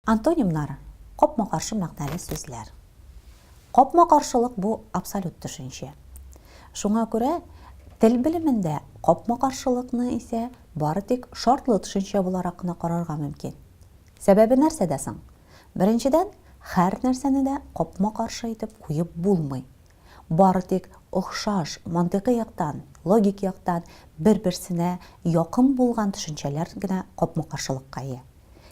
Антонимнар капма каршы мәгънәле сүзләр. Капма каршылык бу абсолют төшенчә. Шуңа күрә тел белемендә капма каршылыкны исә бары тик шартлы төшенчә буларак кына карарга мөмкин. Сәбәбе нәрсәдә соң? Беренчедән, һәрнәрсәне дә капма-каршы итеп куеп булмый. Бары тик охшаш, мантыйкый яктан, логик яктан бер-берсенә якын булган төшенчәләр генә капма-каршылыкка ия.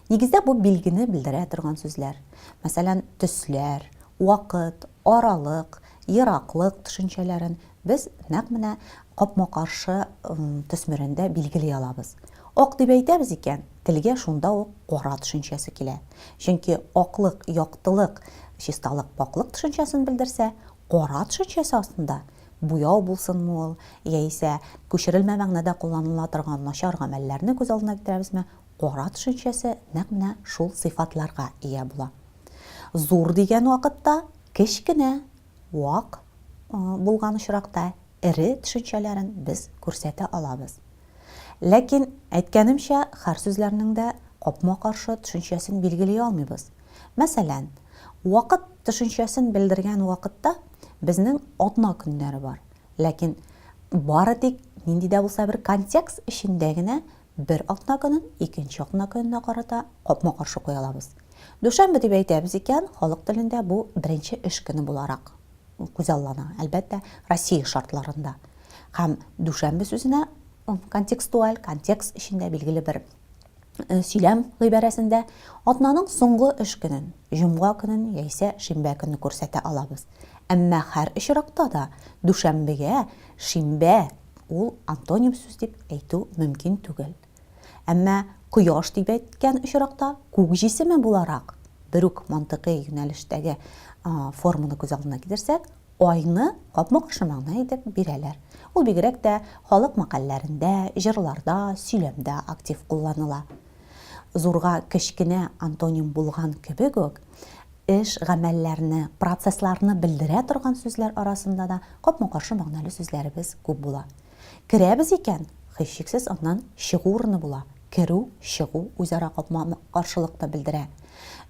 Нигездә бу билгене белдерә торган сүзләр, мәсәлән, төсләр, вакыт, аралык, ераклык төшенчәләрен без нәкъ менә капма-каршы төсмерендә билгели алабыз. Ак дип әйтәбез икән, Телгә шунда ук кара төшенчәсе килә. Чөнки аклык, яктылык, чисталык, пакьлык төшенчәсен белдерсә, кара төшенчәсе астында буяу булсынмы ул, яисә күчерелмә мәгънәдә кулланыла торган начар гамәлләрне күз алдына китерәбезме, кара төшенчәсе нәкъ менә шул сыйфатларга ия була. Зур дигән вакытта кечкенә, вак, булган очракта эре төшенчәләрен без күрсәтә алабыз. Ләкин, әйткәнемчә, хәр сүзләрнең дә капма-каршы төшенчәсен билгели алмыйбыз. Мәсәлән, вакыт төшенчәсен белдергән вакытта безнең атна көннәре бар, ләкин бары тик нинди дә булса бер контекст эчендә генә бер атна көнен икенче атна көненә карата капма-каршы куя алабыз. Дүшәмбе дип әйтәбез икән, халык телендә бу беренче эш көне буларак. күзаллана, әлбәттә, Россия шартларында. Һәм дүшәмбе сүзенә контекстуаль, контекст эчендә билгеле бер э, сөйләм гыйбарәсендә атнаның соңгы эш көнен, җомга көнен яисә шимбә көнне күрсәтә алабыз. Әмма һәр очракта да дүшәмбегә шимбә ул антоним сүз дип әйтү мөмкин түгел. Әмма Кояш дип әйткән очракта Күк җисеме буларак, бер үк мантыйкый юнәлештәге форманы күз алдына китерсәк, Айны капма-каршы мәгънә итеп бирәләр. Ул бигрәк тә халык мәкальләрендә, җырларда, сөйләмдә актив кулланыла. Зурга кечкенә антоним булган кебек үк, эш-гамәлләрне, процессларны белдерә торган сүзләр арасында да капма-каршы мәгънәле сүзләребез күп була. Керәбез икән, һичшиксез аннан чыгу урыны була. Керү, чыгу үзара капма-каршылыкны белдерә.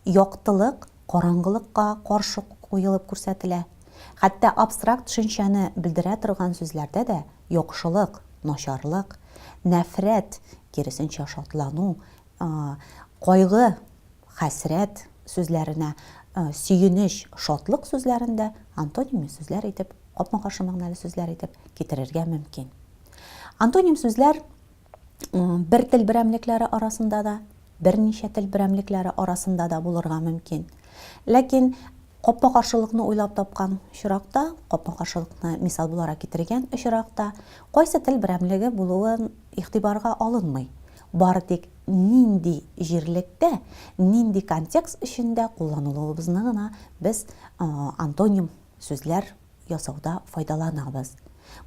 Яктылык караңгылыкка каршы куелып күрсәтелә. Хәтта абстракт төшенчәне белдерә торган сүзләрдә дә яхшылык, начарлык, нәфрәт, киресенчә шатлану, Кайгы, хәсрәт сүзләренә сөенеч, шатлык сүзләрен дә антоним сүзләр итеп, капма-каршы мәгънәле сүзләр итеп китерергә мөмкин. Антоним сүзләр бер тел берәмлекләре арасында да, берничә тел берәмлекләре арасында да булырга мөмкин. Ләкин капма-каршылыкны уйлап тапкан очракта, капма-каршылыкны мисал буларак китергән очракта, кайсы тел берәмлеге булуы игътибарга алынмый. Бары тик нинди җирлектә, нинди контекст эчендә кулланылуыбызны гына без антоним сүзләр ясауда файдаланабыз.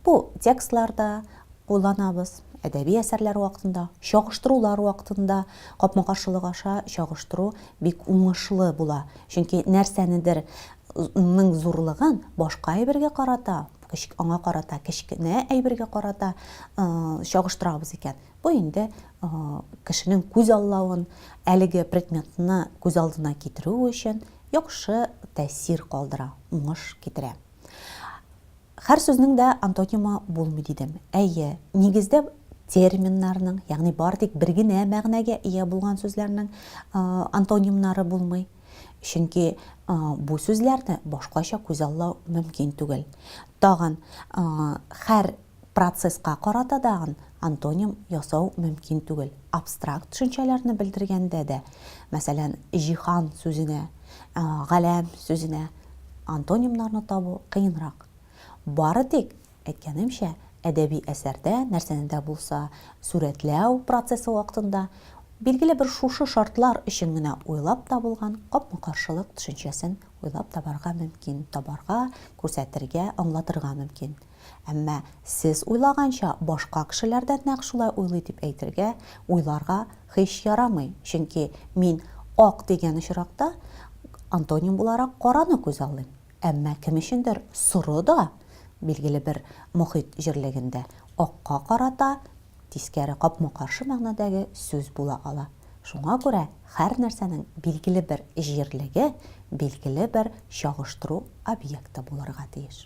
Бу текстларда кулланабыз, әдәби әсәрләр вакытында, чагыштырулар вакытында, капма-каршылык аша чагыштыру бик уңышлы була, чөнки нәрсәнедер ның зурлыгын башка әйбергә карата, аңа карата кечкенә әйбергә карата чагыштырабыз икән, Бу инде кешенең күз аллавын, әлеге предметны күз алдына китерүе өчен яхшы тәэсир калдыра, уңыш китерә. Һәр сүзнең дә антонимы булмый дидем. Әйе, нигездә терминнарның, ягъни бары тик бер генә мәгънәгә ия булган сүзләрнең антонимнары булмый. Чөнки бу сүзләрне башкача күз аллау мөмкин түгел. Тагын һәр Процесска карата дагын антоним ясау мөмкин түгел. Абстракт төшенчәләрне белдергәндә дә, мәсәлән, җиһан сүзенә, галәм сүзенә антонимнарны табу кыенрак. Бары тик, әйткәнемчә, әдәби әсәрдә, нәрсәне дә булса сурәтләү процессы вакытында, билгеле бер шушы шартлар өчен генә уйлап табылган капма-каршылык төшенчәсен уйлап табарга мөмкин, табарга, күрсәтергә, аңлатырга мөмкин. Әмма сез уйлаганча башка кешеләр дә нәкъ шулай уйлый дип әйтергә, уйларга һич ярамый, чөнки мин ак дигән очракта антоним буларак караны күзаллыйм. Әмма кем өчендер соры да, билгеле бер мохит җирлегендә, акка карата тискәре капма-каршы мәгънәдәге сүз була ала. Шуңа күрә хәр нәрсәнең билгеле бер җирлеге билгеле бер чагыштыру объекты булырга тиеш.